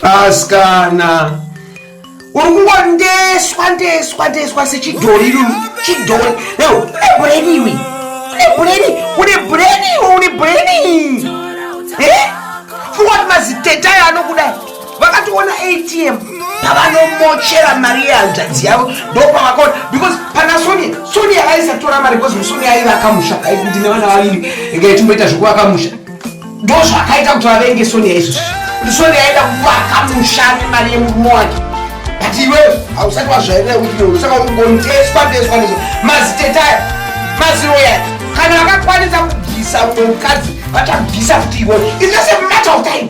askana uri kungondeswa ndeswa ndeswa sechidhori iri chidhori eo une bureni iwe une bureni une bureni iwe une bureni e fungwa kuti maziteta ayo anokudai vakatoona atm pavanomochera mari yehanzvadzi yavo ndopavakaona because pana sonia sonia aisatora mari because sonia aiva akamusha ndine vana vaviri inga ichimboita zvekuvakamusha ndozvakaita kuti vavenge sonia izvozvi ndisonia aida kuvaka mushami mari yemurume wake but iwe hausati wazvairira kuti iwe usaka ungonteswa teswa nezvo mazitetaya maziroya kana vakakwanisa kubvisa umwe mukadzi vachabvisa kuti iwe it's just a matter of time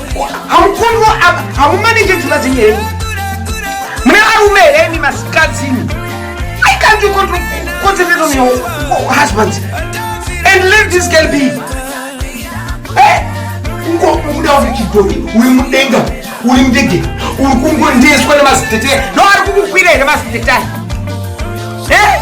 hamukonwa apa hamumanenge dzimba dzenyu here mune varume here imi masikadzini i can't you control concentrate on your husbands and let this girl be eh? ungobuda uri chidhori uri mudenga uri ndege uri kungondeswa nemazitetai no ari kukukwira here mazitetai eh?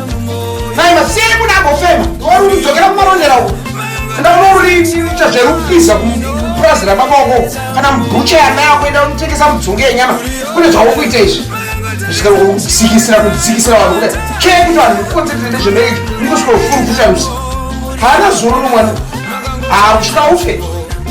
Maima sei kuda kufema? Wari kudzokera kumarondera uko. Kuda kunoita zvekupisa kupurazi rababa wako kana mubucha yana yako enda unotengesa mudzonge yenyama kune zvawuri kuita izvi kusvika kusikisira kusikisira vanhu kudai kee kuti vanhu mukotetete nezvemereki mukusvika kufurufusha musi haana zuro nomwana haa kusvika ufe